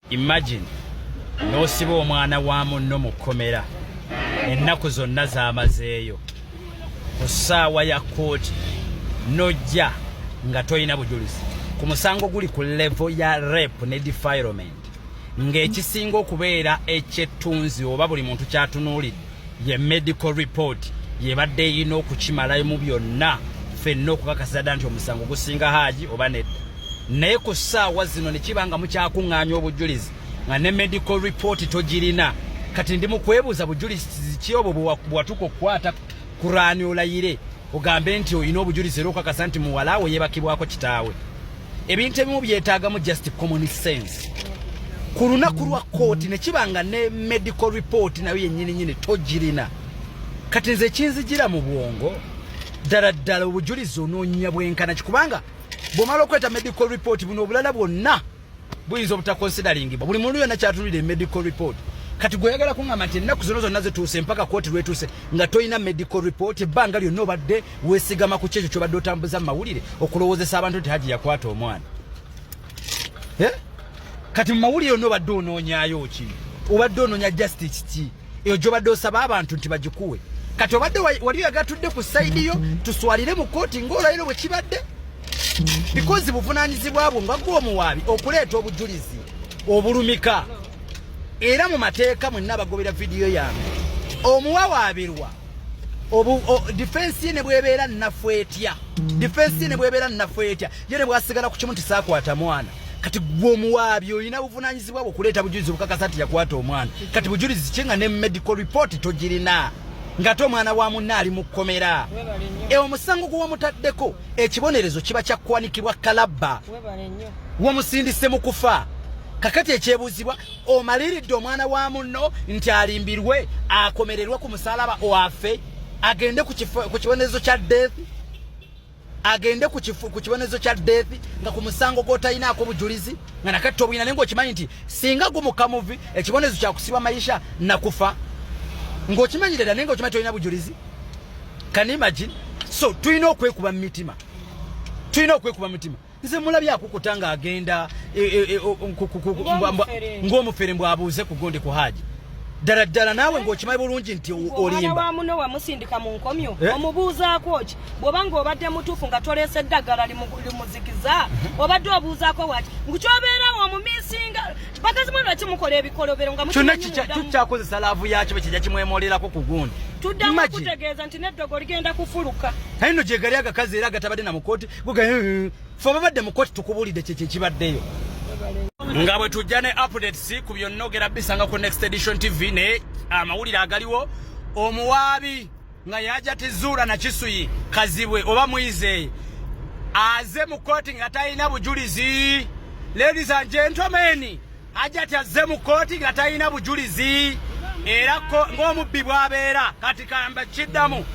Imagine n'osiba omwana wa munno mu kkomera ennaku zonna z'amazeeyo ku ssaawa ya kkooti n'ojja nga tolina bujulizi ku musango guli ku levo ya rep ne defilement ng'ekisinga okubeera ekyettunzi oba buli muntu kyatunuulidde ye medical report yebadde eyina okukimalayo mu byonna fenna okukakasa dda nti omusango gusinga haaji oba nedda naye ku ssaawa zino ne kiba nga mukyakuŋŋaanya obujulizi nga ne medical report togirina kati ndi mu kwebuuza bujulizi ki obwo bwewatuka okukwata kuraani olayire ogambe nti olina obujulizi era okakasa nti muwalaawo yebakibwako kitaawe ebintu ebimu byetaagamu just common sense ku lunaku lwa kooti ne kiba nga ne medical report nayo yennyininyini togirina kati nze ekinzigira mu bwongo ddala ddala obujulizi onoonya bwenkana kikubanga bwomala okweta medical report buno obulala bwonna buyinza obutakonsidalingibwa buli muntu yonna kyatunulira emedical report kati gweyagala kungamba nti ennaku zino zonna zituuse mpaka kooti lwetuuse nga tolina medical report ebbanga lyonna obadde wesigama ku kyekyo kyobadde otambuza mu mawulire okulowoozesa abantu nti haji yakwata omwana eh? kati mu mawulire ono obadde onoonyayo ki obadde onoonya justice ki eyo gyobadde osaba abantu nti bagikuwe kati obadde wali oyagatudde ku sayidi yo tuswalire mu kooti ngaolayiro bwe kibadde bikozi buvunaanyizibwa bwo nga gwe omuwaabi okuleeta obujulizi obulumika era mu mateeka mwenna abagobera vidiyo yange omuwawaabirwa difensi ye ne bwebeera nnafu etya difensi ye ne bwebeera nnafu etya ye ne bwasigala ku kimu nti saakwata mwana kati gwe omuwaabi olina buvunaanyizibwa bwe okuleeta bujulizi obukakasa nti yakwata omwana kati bujulizi ki nga ne medical report togirina ng'ate omwana wa munne ali mu kkomera e omusango gwe wamutaddeko ekibonerezo kiba kyakwanikibwa kalabba wamusindise mu kufa kakati ekyebuuzibwa omaliridde omwana wa munno nti alimbirwe akomererwe ku musalaba wafe agende ku kibonerezo kya death agende ku kibonerezo kya death nga ku musango gwotalinaako bujulizi nga nakatta obuyina naye ngaokimanyi nti singa gumukamuvi ekibonerezo kyakusiba mayisha nakufa ngaokimanyi dada naye ngaokimanyi tolina bujulizi can imagine so tulina okwekuba mu mitima tulina okwekuba mu mitima nze mulabye akukuta nga agenda e, e, e, ng'omufere mbw abuuze ku gonde ku haaji ddala ddala naawe ng'okimanyi bulungi nti olimba wa muno wamusindika mu nkomyo eh? omubuuzaako ki bw'obanga obadde mutuufu nga toleese eddagala limuzikiza mhm. obadde obuuzaako waki ngukyobeerawo omumisinga bakazi mwe lwaki mukola ebikolobero nga kyonna kikyakozesa laavu yakyo bwe kijja kimwemolerako ku gundi tuddamu okutegeeza nti n'eddogo ligenda kufuluka aye no gyegali agakazi era agatabadde na mukooti gugaye ffe ababadde mu koti tukubulidde kyekyo ekibaddeyo nga bwe tujja ne updates ku byonnogera bisanga ku next edition tv naye amawulire agaliwo omuwaabi nga yaja tizuula na kisuyi kazibwe oba mwize aze mu koti nga talina bujulizi ladies and gentlemen Hajati azze mu kkooti nga talina bujulizi era ng'omubbi bw'abeera kati kamba kiddamu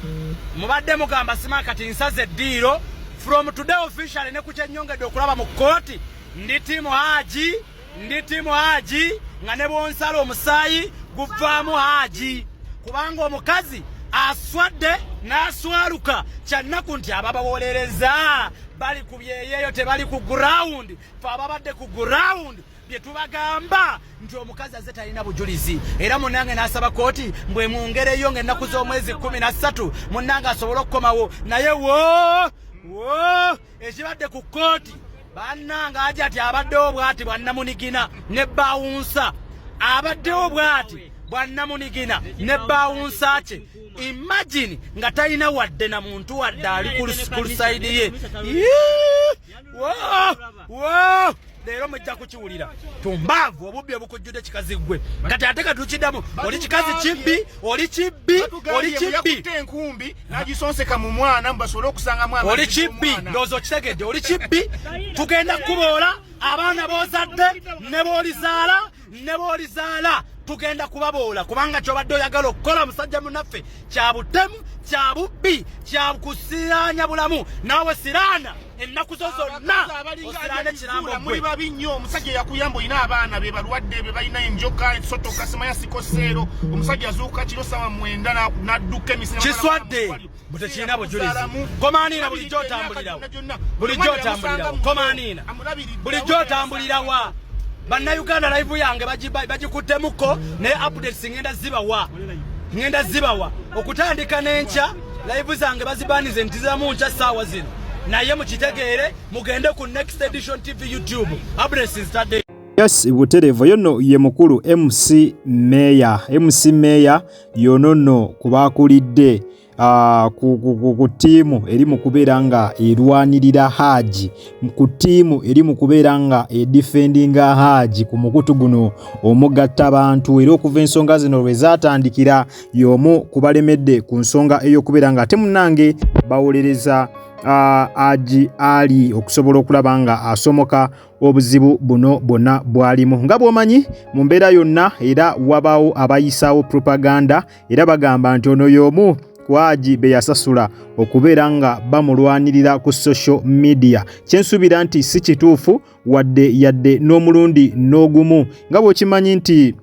mubadde mugamba sima kati nsaze eddiiro from today officially ne ku kyennyongedde okulaba mu kkooti ndi tiimu haaji ndi tiimu haaji nga ne bwonsala omusaayi guvaamu haaji kubanga omukazi aswadde n'aswaluka kyannaku nti ababawolereza bali ku byeyeeyo tebali ku gurawundi fe ababadde ku ground bye tubagamba nti omukazi aze talina bujulizi era munange n'asaba kooti mbwemwongereyo nga ennaku z'omwezi kumi na ssatu munange asobole okukomawo naye wo wo ekibadde ku kooti bannange aja ati abaddewo bwati bwannamunigina ne bawunsa abaddewo bwati bwannamunigina ne bawunsa kye imagine nga talina wadde na muntu wadde ali ku lusayidi ye leero mujja kukiwulira tumbaavu obubbi obukujjude kikazi gwe kati ate katukiddamu oli kikazi kibbi oli kibbi oli kibbi enkumbi nagisonseka mu mwana mubasobole okusanga mwana oli kibbi ndowooza okitegedde oli kibbi tugenda kukuboola abaana bozadde ne bolizaala ne b'olizaala tugenda kubaboola kubanga kyobadde oyagala okukola musajja munaffe kya butemu kya bubbi kya kusiraanya bulamu naawe siraana ennaku zo zonna osiraana ekirambo muli babi nnyo omusajja yakuyamba olina abaana be balwadde be balina enjoka esotoka simanya sikoseero omusajja azuuka kiro sawa mwenda n'adduka emisina kiswadde butekirina bujulizi komaniina bulijjo otambulirawo bulijjo otambulirawo komaniina bulijjo otambulirawa bannayuganda live yange bagikuttemuko naye updates ngenda zibawa ngenda zibawa okutandika n'enkya live zange bazibanize ntizamu nkya saawa zino naye mukitegeere mugende ku next edition tv youtube updates zitadde yes butereevu yono ye mukulu mc meya mc meya y'ono nno ku baakulidde ku ttiimu eri mu kubeera nga erwanirira haaji ku ttiimu eri mu kubeera nga edifendinga haaji ku mukutu guno omugatta bantu era okuva ensonga zino lwe zaatandikira y'omu ku balemedde ku nsonga ey'okubeera nga ate munnange bawolereza uh, aji ali okusobola okulaba nga asomoka obuzibu buno bwonna bwalimu nga bw'omanyi mu mbeera yonna era wabaawo abayisaawo propaganda era bagamba nti ono y'omu kwagi be yasasula okubeera nga bamulwanirira ku social media kyensuubira nti si kituufu wadde yadde n'omulundi n'ogumu nga bw'okimanyi nti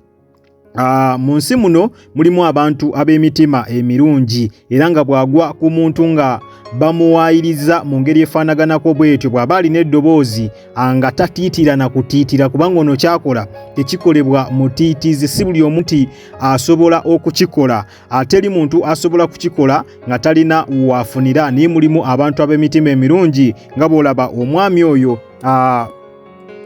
Ah, mu nsi muno mulimu abantu ab'emitima emirungi era nga bw'agwa ku muntu nga bamuwaayiriza mu ngeri efaanaganako bw'etyo bw'aba alina eddoboozi ah, nga tatiitira na kutiitira kubanga ono kyakola tekikolebwa mutiitizi si buli omu nti asobola okukikola ate ah, eri muntu asobola kukikola nga talina waafunira naye mulimu abantu ab'emitima emirungi nga bw'olaba omwami oyo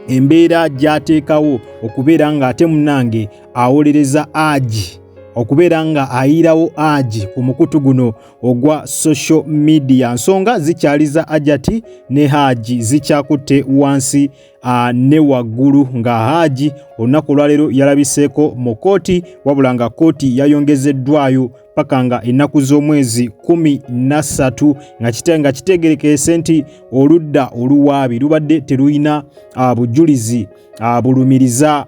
embeera gyateekawo okubeera ng'ate munange awolereza agi okubeera nga ayiirawo agi ku mukutu guno ogwa social media nsonga zikyaliza ajati ne haji zikyakutte wansi uh, ne waggulu nga haji olunaku olwaleero yalabiseeko mu kooti wabula nga kooti yayongezeddwayo paka nga ennaku z'omwezi kumi nassatu nga kite nga kitegerekeese nti oludda oluwaabi lubadde terulina ah, bujulizi ah, bulumiriza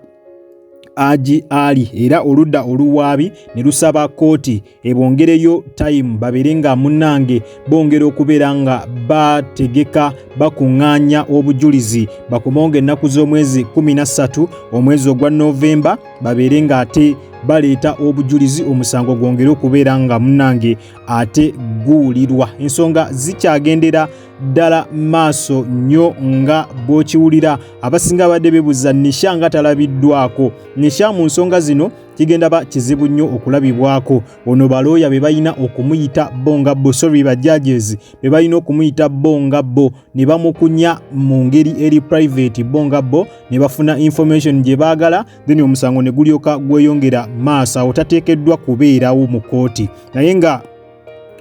Haji Ali era oludda oluwaabi ne lusaba kkooti ebongereyo tayimu babeere nga munnange bongera okubeera nga bategeka bakuŋŋaanya obujulizi bakumonga ennaku z'omwezi 13 omwezi ogwa Novemba babeere nga ate baleeta obujulizi omusango gwongere okubeera nga munange ate guwulirwa ensonga zikyagendera ddala maaso nnyo nga bw'okiwulira abasinga abadde bebuza nisha nga talabiddwako nisha mu nsonga zino kigenda ba kizibu nnyo okulabibwako ono balooya be balina okumuyita bo nga bo sorry bajajezi be balina okumuyita bo nga bo ne bamukunya mu ngeri eri private bo nga bo ne bafuna information gye baagala then omusango ne gulyoka gweyongera maaso awo tateekeddwa kubeerawo mu kkooti naye nga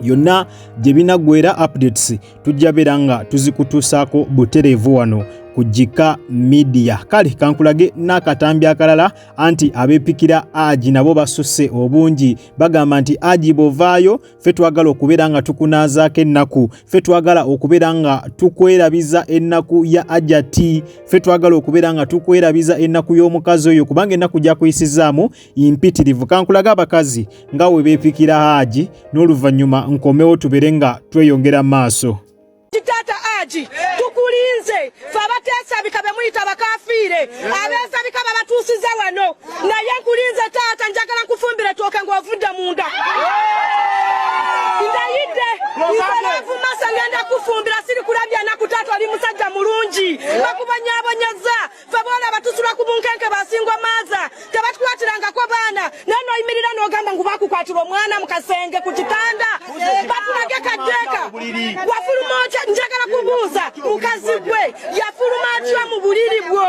yonna gye binaggwera updates tujja beera nga tuzikutuusaako butereevu wano ku jika midiya kale kankulage n'akatambi akalala anti abepikira agi nabo basusse obungi bagamba nti agi bovaayo ffe twagala okubeera nga tukunaazaako ennaku ffe twagala okubeera nga tukwerabiza ennaku ya ajati ffe twagala okubeera nga tukwerabiza ennaku y'omukazi oyo kubanga ennaku gyakuyisizaamu mpitirivu kankulage abakazi nga we beepikira haaji n'oluvannyuma nkomewo tubeere nga tweyongera maaso Taata Aji tukulinze fe abateesabika be muyita bakafiire abeesabika babatuusiza wano naye nkulinze taata njagala nkufumbire tooke ng'ovudde munda ndayidde nzalaavu masa ngenda kufumbira siri kulabya naku taata oli musajja mulungi bakubonyabonyeza fe bola batusula ku bunkenke basingwa maza tebatukwatirangako baana naye noyimirira nogamba ngu bakukwatirwa omwana mu kasenge ku kitanda bakulage kateeka wafuluma otya njagala kubuuza mukazi gwe yafuluma atya mu buliri bwo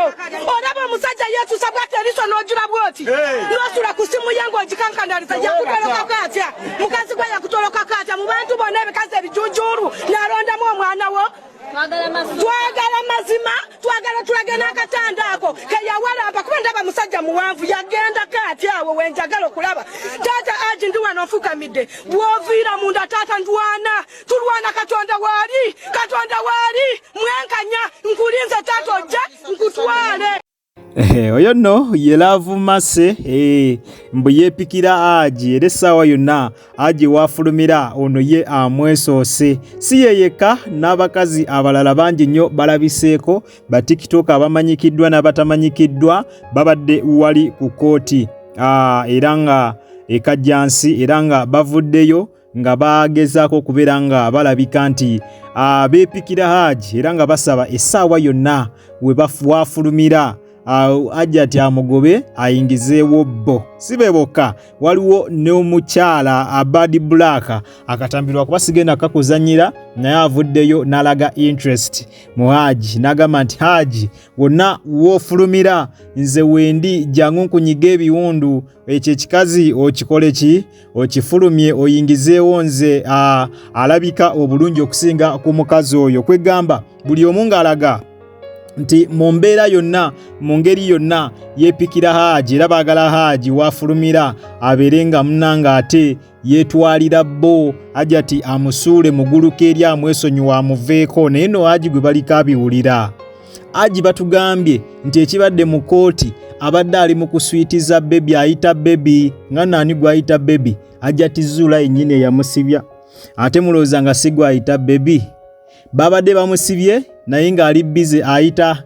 olaba omusajja yesusa bwati eriso nojula bwoti nosula ku simu ye ngaogikankandaliza yakutolokako atya mukazi gwe yakutolokako atya mu bantu bona ebikazi ebijujulu nalondamu omwana wo twagala mazima twagala tulage n'akatanda ako keyawalamba kuba ndaba musajja muwanvu yagendako ati awo wenjagala okulaba taata aji ndi wano nfukamidde bwoviira munda taata ndwana tulwana katonda waali katonda waali mwenkanya nkulinze taata ojje nkutwale Eh, oyo nno ye laavu mase eh, mbu yeepikira agi era essaawa yonna agi waafulumira ono ye amwesoose si ye yekka n'abakazi abalala bangi nnyo balabiseeko batikitooka abamanyikiddwa n'abatamanyikiddwa babadde wali ku kkooti ah, era nga ekajjansi era nga bavuddeyo nga bagezaako okubeera nga balabika nti ah, beepikira haaji era nga basaba essaawa yonna wafulumira ah, hajjati amugobe ayingizeewo bbo si be bokka waliwo n'omukyala abadi ah, bulaaka akatambirwa kuba sigenda kakuzanyira naye avuddeyo n'alaga interest mu haaji n'agamba nti haaji wonna woofulumira nze wendi jangu nkunyiga ebiwundu ekyo ekikazi okikole ki okifulumye oyingizeewo nze alabika obulungi okusinga ku mukazi oyo kwegamba buli omu ng'alaga nti mu mbeera yonna mu ngeri yonna yeepikira haaji era baagala haaji waafulumira abeere nga muna ng'ate yeetwalira bo ajati amusuule muguluka eri amwesonyiwa amuveeko naye no haaji gwe baliko abiwulira Aji batugambye nti ekibadde mu kooti abadde ali mu kuswitiza bebi ayita bebi nga naani gwayita bebi ajja tizuula yennyini eyamusibya ate mulowooza nga si gwayita bebi babadde bamusibye naye ng'ali bize ayita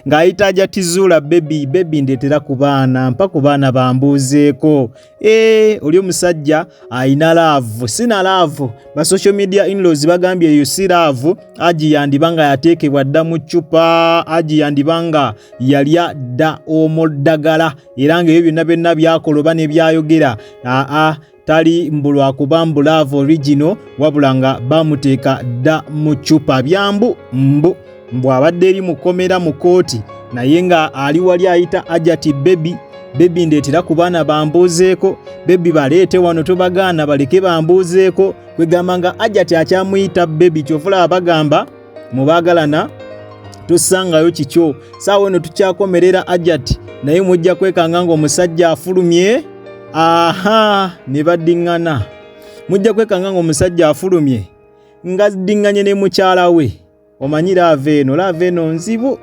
ng'ayita ajja tizuula bebi bebi ndeetera ku baana mpa ku baana bambuuzeeko Eee, eh, oli omusajja alina laavu sina laavu ba social media inlaws bagambye eyo si laavu aji yandiba nga yateekebwa dda mu ccupa aji yandiba nga yalya dda omuddagala era ngaebyo byonna byonna byakola oba nebyayogera aa tali mbu lwakuba mbu laavu origino wabula nga bamuteeka dda mu ccupa byambu mbu mbu abadde eri mukomera mu kooti naye nga ali wali ayita ajati bebi bebi ndetera ku baana bambuuzeeko bebi baleete wano tobagaana baleke bambuuzeeko kwegamba nga ajati akyamuyita bebi kyofula abagamba mubagalana tosangayo kikyo saawa eno tukyakomerera ajati naye mujja kwekanga ngaomusajja afulumye aha ne baddiŋŋana mujja kwekanga ngaomusajja afulumye ngaddinganye ne mukyala we omanyi laava eno laava eno nzibu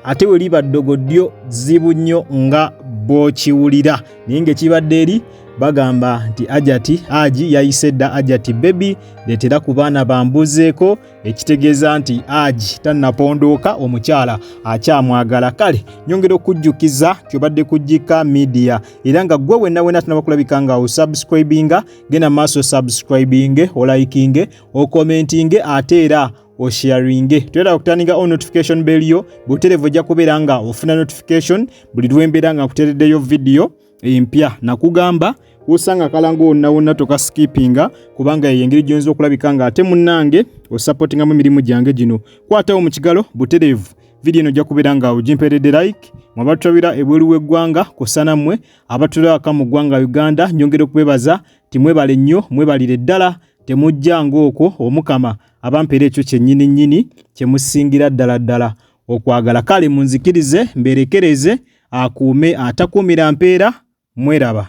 ate we liba ddogo ddyo zibu nnyo nga bw'okiwulira naye ng'ekibadde eri bagamba nti ajati aji yayise dda ajati bebi leetera ku baana bambuzeeko ekitegeeza nti aji tannapondooka omukyala akyamwagala kale nyongera okujjukiza kyobadde kujjika midiya era nga ggwe wenna wena tunabakulabika nga osubscribinga genda maaso subscribinge olayikinge okomentinge ate era osharinge toyera okutandika o notification bell yo buterevu ojja kubeera nga ofuna notification buli lwembeera nga kutereddeyo vidiyo empya nakugamba wosanga kalango wonna wonna tokasikipinga kubanga eyo engeri gyonza okulabika nga ate munnange osapotingamu emirimu gyange gino kwatawo mu kigalo buterevu vidiyo eno ojja kubeera nga ogimperedde like mwabatulabira ebweru w'eggwanga kusana mmwe abatulabaka mu ggwanga uganda nyongera okubebaza timwebale nnyo mwebalire ddala Temujjanga okwo, Omukama abampeera ekyo kyennyini nnyini kye musingira ddala ddala okwagala. Kale munzikirize mbeerekereze, akuume atakuumira mpeera. Mweraba?